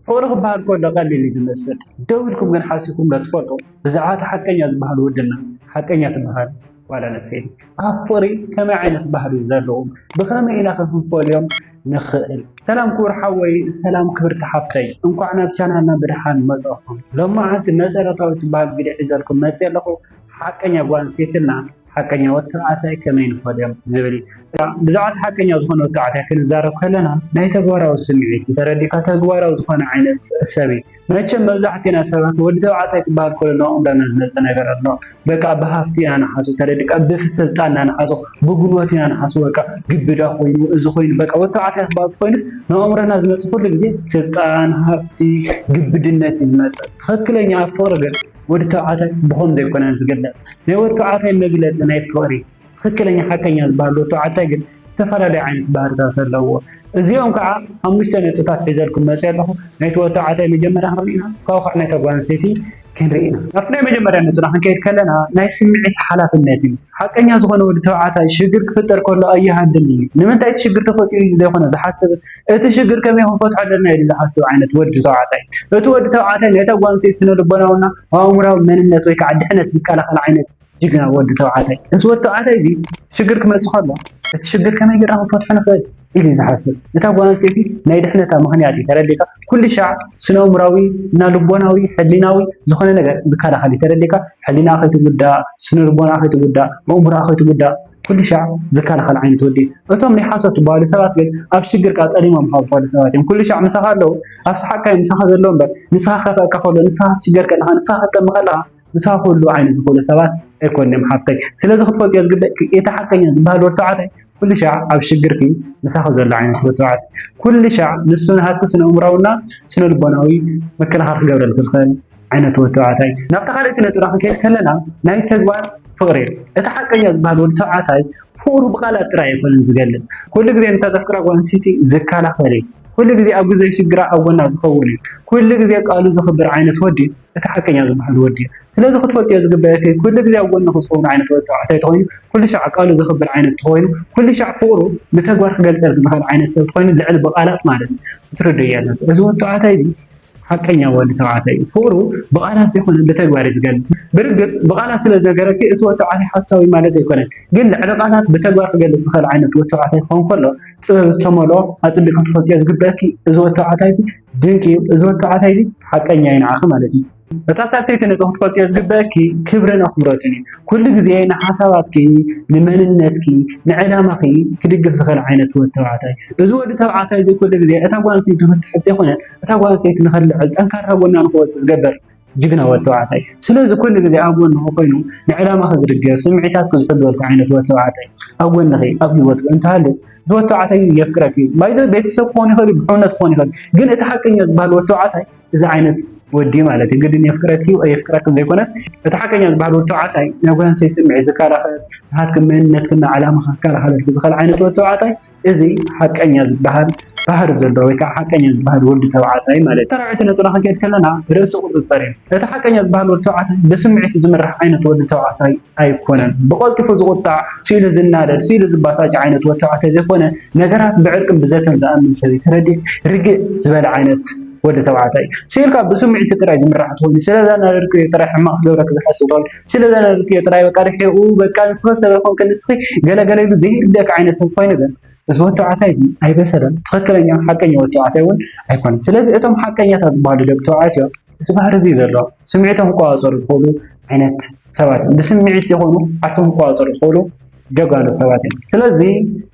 ፍቕሪ ክበሃል ከሎ ቀሊል እዩ ዝመስል፣ ደው ኢልኩም ግን ሓሲብኩምዶ ትፈልጡ? ብዛዕባ እታ ሓቀኛ ዝበሃሉ ወድና ሓቀኛ ትበሃል ጓል ኣንስተይቲ ኣብ ፍቕሪ ከመይ ዓይነት ባህሪ እዩ ዘለዎም? ብኸመይ ኢና ከ ክንፈልዮም ንኽእል? ሰላም ክቡር ሓወይ ሰላም ክብርቲ ሓፍተይ እንኳዕ ናብ ቻናልና ብድሓን መጻእኩም ሎማዓንቲ መሰረታዊ ትበሃል ቪድዮ ሒዘልኩም መጽየ ኣለኹ ሓቀኛ ጓል ኣንስተይትና ሓቀኛ ወዲ ተባዕታይ ከመይ ንፈልዮም ዝብል ብዛዕባ እቲ ሓቀኛ ዝኾነ ወዲ ተባዕታይ ክንዛረብ ከለና ናይ ተግባራዊ ስምዒት እዩ ተረዲእካ ተግባራዊ ዝኾነ ዓይነት ሰብ እዩ መቸም መብዛሕትና ሰባት ወዲ ተባዕታይ ክበሃል ከሎ ንኣእምሮና ዝመፅእ ነገር ኣሎ በቃ ብሃፍቲ ኢና ንሓስቦ ተረዲእካ ብስልጣን ኢና ንሓስቦ ብጉልበት ኢና ንሓስቦ በቃ ግብዳ ኮይኑ እዚ ኮይኑ በቃ ወዲ ተባዕታይ ክበሃል ኮይኑስ ንኣእምሮና ዝመፅእ ኩሉ ግዜ ስልጣን ሃፍቲ ግብድነት እዩ ዝመፅእ ትኽክለኛ ኣብ ፍቕሪ ግን ወዲ ተባዕታይ ብኸም ዘይኮነ ዝግለጽ ናይ ወዲ ተባዕታይ መግለጺ ናይ ፍቕሪ ትኽክለኛ ሓቀኛ ዝበሃል ወዲ ተባዕታይ ግን ዝተፈላለዩ ዓይነት ባህርታት ኣለዎ። እዚኦም ከዓ ሓሙሽተ ነጥብታት ሒዘልኩም መፅየ ኣለኹ። ናይቲ ወዲ ተባዕታይ መጀመርያ ክንርኢ ኢና፣ ካብኡ ከዓ ናይታ ጓል ኣንስተይቲ ክንርኢ ኢና። ናብቲ ናይ መጀመርያ ነጥብና ክንከይድ ከለና ናይ ስምዒት ሓላፍነት እዩ። ሓቀኛ ዝኾነ ወዲ ተባዕታይ ሽግር ክፍጠር ከሎ ኣይሃድምን እዩ። ንምንታይ እቲ ሽግር ተፈጢሩ እዩ ዘይኮነ ዝሓስብስ እቲ ሽግር ከመይ ክንፈትሖ ኣለና ኢሉ ዝሓስብ ዓይነት ወዲ ተባዕታይ። እቲ ወዲ ተባዕታይ ናይታ ጓል ኣንስተይቲ ስነ-ልቦናዊና ኣእምሮኣዊ መንነት ወይ ከዓ ድሕነት ዝከላኸል ዓይነት ጅግና ወዲ ተባዕታይ። እዚ ወዲ ተባዕታይ እዚ ሽግር ክመፅእ ከሎ እቲ ሽግር ከመይ ጌርና ክንፈትሖ ንኽእል ኢሉ እዩ ዝሓስብ። እታ ጓል ኣንስተይቲ ናይ ድሕነታ ምኽንያት እዩ ተረዲእካ ኩሉ ሻዕ ስነ-ኣእምሮኣዊ እና ልቦናዊ ሕሊናዊ ዝኾነ ነገር ዝከላኸል እዩ ተረዲእካ ሕሊናኣ ከይትጉዳእ፣ ስነ-ልቦናኣ ከይትጉዳእ፣ ኣእምሮኣ ከይትጉዳእ። ኩሉ ሻዕ ዝከላኸል ዓይነት ወዲ እዩ። እቶም ናይ ሓሶት ዝበሃሉ ሰባት ግን ኣብ ሽግርካ ቀዲሞምኻ ዝኾዱ ሰባት እዮም። ኩሉ ሻዕ ምሳኻ ኣለዉ፣ ኣብ ሰሓቕካ እዮም ምሳኻ ዘለዉ እምበር ንስኻ ክኸፍኣካ ከሎ፣ ንስኻ ክትሽገር ከለኻ፣ ንስኻ ክትጠሚ ከለኻ ምሳኻ ክህልዉ ዓይነት ዝኾኑ ሰባት ኣይኮኑን እዮም ሓፍተይ። ስለዚ ክትፈልጥዮ ዝግበእኪ እቲ ሓቀኛ ዝበሃል ወዲ ተባዕታይ ኩሉ ሻዕ ኣብ ሽግርኪ ምሳኺ ዘሎ ዓይነት ወዲ ተባዕታይ ኩሉ ሻዕ ንሱ ናሃትኪ ስነ-ኣእምሮኣዊና ስነ-ልቦናዊ ምክልኻል ክገብረልኪ ዝኽእል ዓይነት ወዲ ተባዕታይ እዩ። ናብታ ካልኣይቲ ነጥብና ክንከይድ ከለና ናይ ተግባር ፍቕሪ እዩ። እቲ ሓቀኛ ዝበሃል ወዲ ተባዕታይ ፍቕሩ ብቃላት ጥራይ ኣይኮነን ዝገልጽ፣ ኩሉ ግዜ ነታ ዘፍቅራ ጓል ኣንስተይቲ ዝከላኸል እዩ። ኩሉ ግዜ ኣብ ግዜ ሽግራ ኣብ ጎና ዝኸውን እዩ። ኩሉ ግዜ ቃሉ ዘኽብር ዓይነት ወዲ እቲ ሓቀኛ ዝበሃል ወዲ እዩ። ስለዚ ክትፈልጥዮ ዝግበኣኪ ኩሉ ግዜ ኣብ ጎንኺ ዝኸውን ዓይነት ወዲ ተባዕታይ ተኾይኑ ኩሉ ሻዕ ቃሉ ዘኽብር ዓይነት ተኾይኑ ኩሉ ሻዕ ፍቕሩ ብተግባር ክገልጸልኪ ዝኽእል ዓይነት ሰብ ተኾይኑ ልዕሊ ብቃላት ማለት እዩ ክትርድእዮ ኣለኪ እዚ ወዲ ተባዕታይ እዚ ሓቀኛ ወዲ ተባዕታይ እዩ ፍቅሩ ብቃላት ዘይኮነ ብተግባር እዩ ዝገልፅ ብርግፅ ብቃላት ስለ ዝነገረኪ እቲ ወዲ ተባዕታይ ሓሳዊ ማለት ኣይኮነን ግን ልዕሊ ቃላት ብተግባር ክገልፅ ዝክእል ዓይነት ወዲ ተባዕታይ ክኮን ከሎ ጥበብ ዝተመልኦ ኣፅቢቂ ክትፈልጥዮ ዝግበእኪ እዚ ወዲ ተባዕታይ እዚ ድንቂ እዩ እዚ ወዲ ተባዕታይ እዚ ሓቀኛ እዩ ንዓኪ ማለት እዩ እታ ሳልሰይቲ ነጥቢ ክትፈልጥዮ ዝግበእኪ ክብርን ኣክብሮትን እዩ ኩሉ ግዜ ንሓሳባትኪ ንመንነትኪ ንዕላማኪ ክድግፍ ዝክእል ዓይነት ወዲ ተባዕታይ እዚ ወዲ ተባዕታይ እዚ ኩሉ ግዜ እታ ጓል ኣንስተይቲ ክትሕት ዘይኮነ እታ ጓል ኣንስተይቲ ንኽትልዕል ጠንካራ ጎና ንኽወጽእ ዝገብር ጅግና ወዲ ተባዕታይ እዩ። ስለዚ ኩሉ ግዜ ኣብ ጎንኺ ኮይኑ ንዕላማኺ ዝድግፍ፣ ስምዒታትኪ ዝሕልወልኪ ዓይነት ወዲ ተባዕታይ ኣብ ጎንኺ ኣብ ህይወትኪ እንተሃልዩ እዚ ወዲ ተባዕታይ እዩ የፍቅረኪ እዩ። ባይ ዘ ወይ ቤተሰብ ክኾን ይኽእል እዩ፣ ብሕውነት ክኾን ይኽእል እዩ። ግን እቲ ሓቀኛ ዝበሃል ወዲ ተባዕታይ እዚ ዓይነት ወዲ እዩ ማለት እዩ። ግድን የፍቅረኪ እዩ ኣየፍቅረክን ዘይኮነስ እቲ ሓቀኛ ዝበሃል ወዲ ተባዕታይ ናይ ጓል ኣንስተይቲ ስምዒት ዝከላኸል፣ ናትኪ መንነትክን ዕላማኽን ክከላኸለልኪ ዝኽእል ዓይነት ወዲ ተባዕታይ እዚ ሓቀኛ ዝበሃል ባህሪ ዘለዎ ወይ ከዓ ሓቀኛ ዝበሃል ወዲ ተባዕታይ ማለት እዩ። ኣብ ሻራዊት ነጥብና ክንከይድ ከለና ርእሲ ቁፅፅር እዩ። እቲ ሓቀኛ ዝበሃል ወዲ ተባዕታይ ብስምዒቱ ዝምራሕ ዓይነት ወዲ ተባዕታይ ኣይኮነን። ብቐልጢፉ ዝቑጣዕ፣ ስኢኑ ዝናደድ፣ ስኢኑ ዝባሳጭ ዓይነት ወዲ ተባዕታይ ዘይኮነ ነገራት ብዕርቅን ብዘተን ዝኣምን ሰበይቲ ረዲት ርግእ ዝበለ ዓይነት ወዲ ተባዕታይ እዩ። ስኢልካ ብስምዒቱ ጥራይ ዝምራሕ ተኾይኑ ስለዘናደድኩ እየ ጥራይ ሕማቕ ክገብረኪ ዝሓስብ ተባሂሉ ስለ ዘነበብክዮ ጥራይ በቃ ርሒቑ በቃ ንስኺ ሰበይ ኾንኪ ንስኺ ገለ ገለ ኢሉ ዘይርድኣኪ ዓይነት ሰብ ኮይኑ ግን እዚ ወዲ ተባዕታይ እዚ ኣይበሰለን ትኽክለኛ ሓቀኛ ወዲ ተባዕታይ እውን ኣይኮነን ስለዚ እቶም ሓቀኛታት ዝበሃሉ ደቂ ተባዕትዮ እዚ ባህሪ እዚ ዘሎ ስምዒቶም ክቆፃፀሩ ዝኽእሉ ዓይነት ሰባት ብስምዒት ዘይኮኑ ዓርሶም ክቆፃፀሩ ዝኽእሉ ጀጋኑ ሰባት እዮም ስለዚ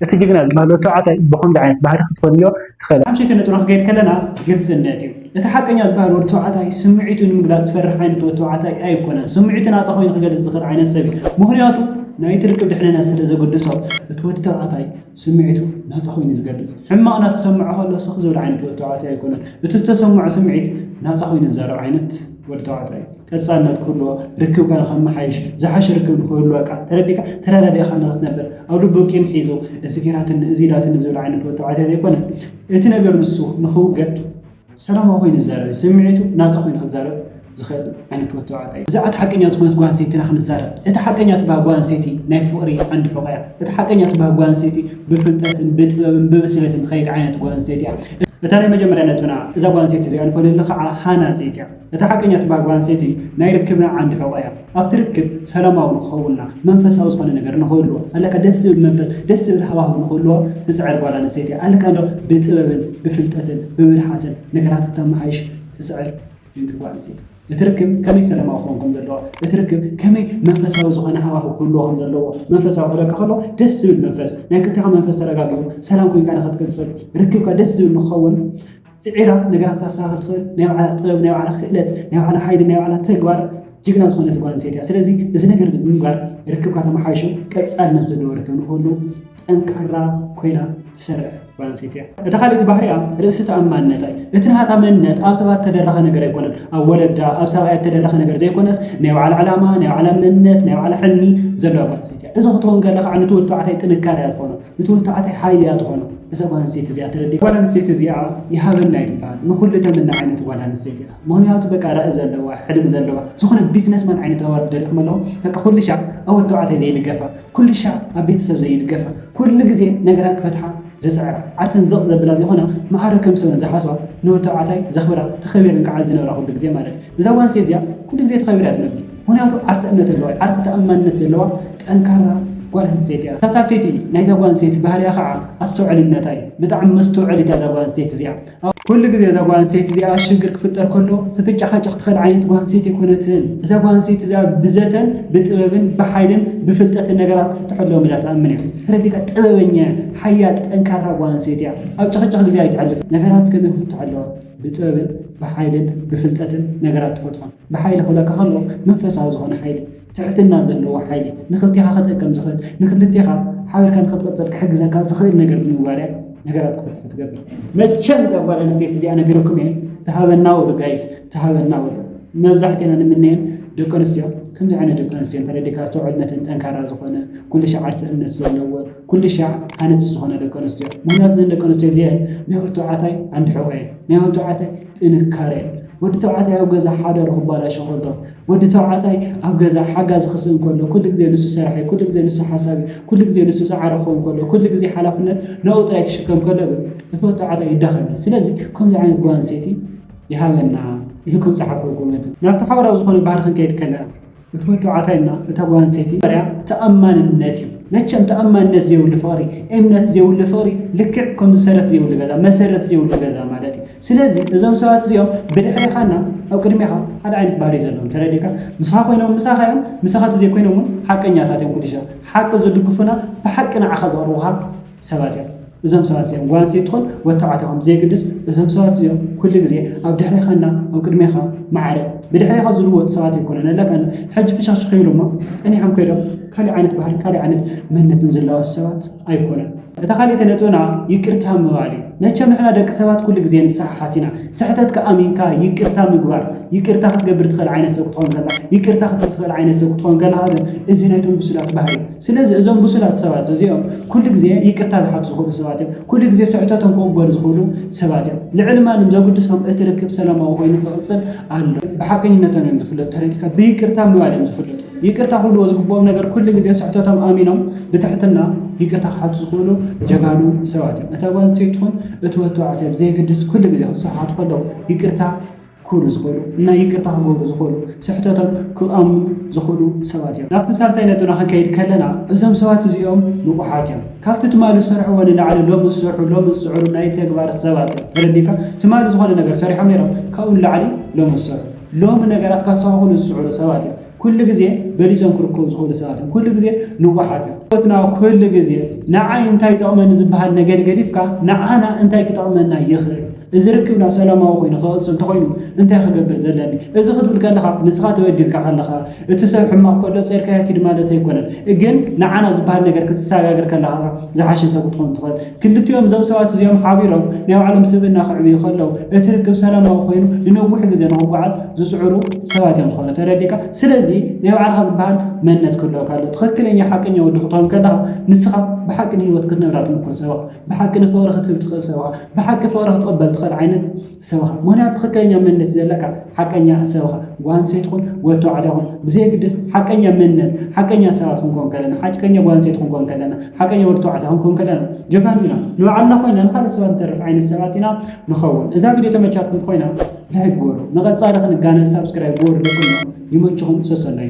እቲ ጅግና ዝባሃል ወዲ ተባዕታይ ብከምዚ ዓይነት ባህሪ ክትፈልዮ ትክእል ኣብ ሽንቲ ንጥሮ ክገድ ከለና ግልጽነት እዩ እቲ ሓቀኛ ዝባሃል ወዲ ተባዕታይ ስምዒቱ ንምግላጽ ዝፈርሕ ዓይነት ወዲ ተባዕታይ ኣይኮነን ስምዒቱ ናጻ ኮይኑ ክገልጽ ዝክእል ዓይነት ሰብ እዩ ምክንያቱ ናይቲ ርክብ ድሕንነት ስለ ዘገድሶ እቲ ወዲ ተባዕታይ ስምዒቱ ናጻ ኮይኑ ዝገልጽ ሕማቅ ናተሰምዖ ከሎ ስክ ዝብል ዓይነት ወዲ ተባዕታይ ኣይኮነን እቲ ዝተሰምዖ ስምዒት ናጻ ኮይኑ ዝዛረብ ዓይነት ወዲ ተባዕታይ እዩ ቀጻልነት ክህልዎ፣ ርክብካ ንኸመሓይሽ፣ ዝሓሸ ርክብ ንኽህልወካ፣ ተረዲእካ ተረዳዲእኻና ክትነብር፣ ኣብ ልቡ ቂም ሒዙ እዚ ገይራትኒ እዚ ኢላትኒ ዝብል ዓይነት መተባዕታይ ዘይኮነ፣ እቲ ነገር ንሱ ንኽውገድ ሰላማዊ ኮይኑ ዝዛረብ እዩ። ስምዒቱ ናጻ ኮይኑ ክዛረብ ዝኽእል ዓይነት ወዲ ተባዕታይ እዩ። ብዛዕባ እታ ሓቀኛ ዝኾነት ጓል ኣንስተይቲ ኢና ክንዛረብ። እታ ሓቀኛ ትበሃል ጓል ኣንስተይቲ ናይ ፍቕሪ ዓንዲ ሕቖ እያ። እታ ሓቀኛ ትበሃል ጓል ኣንስተይቲ ብፍልጠትን ብጥበብን ብብስለትን ትኸይድ ዓይነት ጓል ኣንስተይቲ እያ። እታ ናይ መጀመርያ ነጥብና እዛ ጓል ኣንስተይቲ እዚኣ ንፈልየሉ ከዓ ሃናጺት እያ። እታ ሓቀኛ እትበሃል ጓል ኣንስተይቲ ናይ ርክብና ዓንዲ ሕቖ እያ። ኣብቲ ርክብ ሰላማዊ ንኽኸውንና፣ መንፈሳዊ ዝኾነ ነገር ንኽህልዎ፣ ኣለካ ደስ ዝብል መንፈስ፣ ደስ ዝብል ሃዋህው ንኽህልዎ ትጽዕር ጓል ኣንስተይቲ እያ። ኣለካ እንዶ ብጥበብን ብፍልጠትን ብብልሓትን ነገራት ክተመሓይሽ ትጽዕር ድንቂ ጓል ኣንስተይቲ። እቲ ርክብ ከመይ ሰላማዊ ክኸውን ከም ዘለዎ፣ እቲ ርክብ ከመይ መንፈሳዊ ዝኾነ ሃዋህው ክህልዎ ከም ዘለዎ፣ መንፈሳዊ ክብለካ ከሎ ደስ ዝብል መንፈስ፣ ናይ ክልቴኻ መንፈስ ተረጋጊኡ ሰላም ኮይንካ ንኽትቅጽል፣ ርክብካ ደስ ዝብል ንኽኸውን፣ ጽዒራ ነገራት ክተስተኻኽል ትኽእል ናይ ባዕላ ጥበብ፣ ናይ ባዕላ ክእለት፣ ናይ ባዕላ ሓይሊ፣ ናይ ባዕላ ተግባር ጅግና ዝኾነት ጓል ኣንስተይቲ እያ። ስለዚ እዚ ነገር እዚ ብምግባር ርክብካ ተመሓይሹ ቀጻልነት ዘለዎ ርክብ ንክህሉ ጠንካራ ኮይና ትሰርሕ ጓል ኣንስተይቲ እያ። እታ ካልእቲ ባህሪኣ ርእሲ ተኣማንነታ እዩ። እቲ ናታ መንነት ኣብ ሰባት ተደረኸ ነገር ኣይኮነን። ኣብ ወለዳ ኣብ ሰብኣያ ተደረኸ ነገር ዘይኮነስ ናይ ባዕላ ዕላማ፣ ናይ ባዕላ መንነት፣ ናይ ባዕላ ሕልሚ ዘለዋ ጓል ኣንስተይቲ እያ። እዚ ክትከውን ከለካ ዕንትወት ተባዕታይ ጥንካረ እያ ትኾኖ። እቲ ወተዓታይ ሓይሊ እያ ትኾኖ እዛ ጓል ኣንስተይቲ እዚኣ ተረዲእካ። ጓል ኣንስተይቲ እዚኣ ይሃበና እዩ ትበሃል ንኹሉ ተምኒ ዓይነት ጓል ኣንስተይቲ እያ ምኽንያቱ በቃ ራኢ ዘለዋ ሕልም ዘለዋ ዝኾነ ቢዝነስ ማን ዓይነት ኣዋርድ ደሪኹም ኣለዉ በቃ ኩሉ ሻዕ ኣብ ወዲ ተባዕታይ ዘይድገፋ ኩሉ ሻዕ ኣብ ቤተሰብ ዘይድገፋ ኩሉ ግዜ ነገራት ክፈትሓ ዝጽዕራ ዓርሰን ዘቕ ዘብላ ዘይኮነ ማዕረ ከም ሰብ ዝሓስባ ንወዲ ተባዕታይ ዘኽብራ ተኸቢረን ከዓ ዝነብራ ኩሉ ግዜ ማለት እዩ እዛ ጓል ኣንስተይቲ እዚኣ ኩሉ ግዜ ተኸቢራ እያ ትነብር ምኽንያቱ ዓርሰ እምነት ኣለዋ እያ፣ ዓርሰ ተኣማንነት ዘለዋ ጠንካራ ጓል ኣንስተይቲ እያ። እታ ሳልሰይቲ ናይዛ ጓል ኣንስተይቲ ባህርያ ኸዓ ኣስተውዕልነታ እዩ። ብጣዕሚ መስተውዐሊት እያ እዛ ጓል ኣንስተይቲ እዚኣ። ኩሉ ግዜ እዛ ጓል ኣንስተይቲ እዚኣ ሽግር ክፍጠር ከሎ ክትጨሓጨኽ ትኽእል ዓይነት ጓል ኣንስተይቲ ኣይኮነትን። እዛ ጓል ኣንስተይቲ እዚኣ ብዘተን ብጥበብን ብሓይልን ብፍልጠትን ነገራት ክፍትሑ ኣለዎም ኢላ ትኣምን እያ። ተረዲእካ? ጥበበኛ እያ፣ ሓያል ጠንካራ ጓል ኣንስተይቲ እያ። ኣብ ጭኽጭኽ ግዜ ኣይተሕልፍን። ነገራት ከመይ ክፍትሑ ኣለዎም? ብጥበብን ብሓይልን ብፍልጠትን ነገራት ትፈትሖም። ብሓይሊ ክብለካ ከለኹ መንፈሳዊ ዝኾነ ሓይሊ፣ ትሕትና ዘለዎ ሓይሊ፣ ንኽልቴኻ ክጠቅም ዝኽእል፣ ንኽልቴኻ ሓቢርካ ንኽትቕጽል ክሕግዘካ ዝኽእል ነገር ብምግባር እያ ነገራት ክፍትሑ ትገብር። መቸም እዛ ጓል ኣንስተይቲ እዚኣ ነጊረኩም እየ ትሃበና ወዱ ጋይስ ትሃበና ወዱ መብዛሕቴና ንምነየን ደቂ ኣንስትዮ ከምዚ ዓይነት ደቂ ኣንስትዮ እንተረዲካ ኣስተውዕልነተን ጠንካራ ዝኾነ ኩልሻዕ ዓርሰ እምነት ዘለዎ ኩልሻዕ ሃነፅቲ ዝኾነ ደቂ ኣንስትዮ ምክንያቱ እዘን ደቂ ኣንስትዮ እዚኤን ናይ ወርቱ ዓታይ ዓንዲ ሕቆ እየን ናይ ወርቱ ዓታይ ጥንካረ ወዲ ተባዕታይ ኣብ ገዛ ሓዳሩ ክባላሾ ከሎ ወዲ ተባዕታይ ኣብ ገዛ ሓጋዚ ክስእን ከሎ ኩሉ ግዜ ንሱ ሰራሕ እዩ ኩሉ ግዜ ንሱ ሓሳብ እዩ ኩሉ ግዜ ንሱ ጻዕሪ ክኸውን ከሎ ኩሉ ግዜ ሓላፍነት ንኡ ጥራይ ክሽከም ከሎ ግን እቲ ወዲ ተባዕታይ ይዳኸም እዩ ስለዚ ከምዚ ዓይነት ጓል ኣንስተይቲ ይሃበና ኢልኩም ጸሓፉ ኮመንት ናብቲ ሓባራዊ ዝኾነ ባህሪ ክንከይድ ከለና እቲ መተባዕታይ እና እታ ጓል ኣንስተይቲ መጀመርያ ተኣማንነት እዩ። መቸም ተኣማንነት ዘይብሉ ፍቕሪ፣ እምነት ዘይብሉ ፍቕሪ ልክዕ ከምዚ ሰረት ዘይብሉ ገዛ፣ መሰረት ዘይብሉ ገዛ ማለት እዩ። ስለዚ እዞም ሰባት እዚኦም ብድሕሬኻ እና ኣብ ቅድሜኻ ሓደ ዓይነት ባህሪ እዩ ዘለዎም ተረዲእካ? ምስኻ ኮይኖም ምሳኻ እዮም፣ ምሳኻ ተዘይኮይኖም እውን ሓቀኛታት እዮም ኩሉ ሻዕ ሓቂ ዝድግፉና ብሓቂ ንዓኻ ዘቕርቡኻ፣ ሰባት እዮም። እዞም ሰባት እዚኦም ጓል ኣንስተይቲ ትኹን ወድ ተባዕታይ ኹን ብዘየግድስ እዞም ሰባት እዚኦም ኩሉ ግዜ ኣብ ድሕሬኻ እና ኣብ ቅድሜኻ ማዕረ ብድሕሬኻ ዝልወጡ ሰባት ኣይኮኑን እለ ከነ ሕጂ ፍሽኽሽኽ ይብሉ እሞ ጸኒሖም ከይዶም ካልእ ዓይነት ባህልን ካልእ ዓይነት መንነትን ዝላወስ ሰባት ኣይኮኑን። እታ ካልእቲ ነጥብና ይቅርታ ምባል እዩ። መቸም ንሕና ደቂ ሰባት ኩሉ ግዜ ንሰሓሓት ኢና። ስሕተትካ ኣሚንካ ይቅርታ ምግባር ይቅርታ ክትገብር ትኽእል ዓይነት ሰብ ክትኾን ከለኻ ይቅርታ ክትብል ትኽእል ዓይነት ሰብ ክትኾን ከለኻ ግን እዚ ናይቶም ብሱላት ባህሪ እዩ። ስለዚ እዞም ብሱላት ሰባት እዚኦም ኩሉ ግዜ ይቅርታ ዝሓቱ ዝኽእሉ ሰባት እዮም። ኩሉ ግዜ ስሕተቶም ክቕበሉ ዝኽእሉ ሰባት እዮም። ልዕሊ ማንም ዘጉድሶም እቲ ርክብ ሰላማዊ ኮይኑ ክቕጽል ኣለዎ። ብሓቀኝነቶም እዮም ዝፍለጡ ተረዲእካ ብይቅርታ ምባል እዮም ዝፍለጡ። ይቅርታ ክብልዎ ዝግብኦም ነገር ኩሉ ግዜ ስሕተቶም ኣሚኖም ብትሕትና ይቅርታ ክሓቱ ዝኽእሉ ጀጋኑ ሰባት እዮም። እታ ጓል ኣንስተይቲ ትኹን እቲ ወዲ ተባዕታይ ብዘየገድስ ኩሉ ግዜ ክሰሓሓቱ ከለዉ ይቅርታ ክህሉ ዝኽእሉ እና ይቅርታ ክገብሩ ዝኽእሉ ስሕተቶም ክኣምኑ ዝኽእሉ ሰባት እዮም። ናብቲ ሳልሳይ ነጥብና ክንከይድ ከለና እዞም ሰባት እዚኦም ንቁሓት እዮም። ካብቲ ትማሊ ዝሰርሕዎ ንላዕሊ ሎሚ ዝሰርሑ ሎሚ ዝጽዕሩ ናይ ተግባር ሰባት እዮም። ተረዲእካ? ትማሊ ዝኾነ ነገር ሰሪሖም ኔሮም ካብኡ ንላዕሊ ሎሚ ዝሰርሑ ሎሚ ነገራት ከስተኻኽሉ ዝጽዕሩ ሰባት እዮም። ኩሉ ግዜ በሊጾም ክርከቡ ዝኽእሉ ሰባት እዮም። ኩሉ ግዜ ንውሓት እዮም። ህይወትና ኩሉ ግዜ ንዓይ እንታይ ይጠቕመኒ ዝበሃል ነገር ገዲፍካ ንዓና እንታይ ክጠቕመና ይኽእል፣ እዚ ርክብና ሰላማዊ ኮይኑ ክቕጽል እንተኾይኑ እንታይ ክገብር ዘለኒ፣ እዚ ክትብል ከለኻ ንስኻ ተበዲልካ ከለኻ እቲ ሰብ ሕማቕ ከሎ ጸርካዮ ኪድ ማለት ኣይኮነን፣ ግን ንዓና ዝበሃል ነገር ክትሰጋገር ከለኻ ዝሓሸ ሰብ ክትኾን ትኽእል። ክልቲኦም እዞም ሰባት እዚኦም ሓቢሮም ናይ ባዕሎም ስብእና ከዕብዩ ከለው እቲ ርክብ ሰላማዊ ኮይኑ ንነዊሕ ግዘ ንኽጓዓዝ ዝፅዕሩ ሰባት እዮም ዝኾኑ ተረዲእካ ስለዚ ናይ ባዕልኻ ዝበሃል መንነት ክህልወካ ኣለዎ ትኽክለኛ ሓቀኛ ወዲ ክትኾን ከለኻ ንስኻ ብሓቂ ንህይወት ክትነብራ ትምኩር ሰብ ኢኻ ብሓቂ ንፍቕሪ ክትህብ ትኽእል ሰብ ኢኻ ብሓቂ ፍቕሪ ክትቕበል ትኽእል ዓይነት ሰብኻ ምኽንያቱ ትኽክለኛ መንነት ዘለካ ሓቀኛ ሰብኻ ጓል ኣንስተይቲ ኹን ወዲ ተባዕታይ ኹን ብዘየግድስ ሓቀኛ መንነት ሓቀኛ ሰባት ክንኮን ከለና ሓቀኛ ጓል ኣንስተይቲ ክንኮን ከለና ሓቀኛ ወዲ ተባዕታይ ክንኮን ከለና ጀጋኑ ኢና ንባዕልና ኮይና ንካልእ ሰባት ንተርፍ ዓይነት ሰባት ኢና ንኸውን እዛ ቪድዮ ተመቻትኩም ኮይና ላይክ ግበሩ ንቐፃሊ ክንጋነ ሳብስክራይብ ግበሩ ደቅኖ ይመችኹም ሰሰናዩ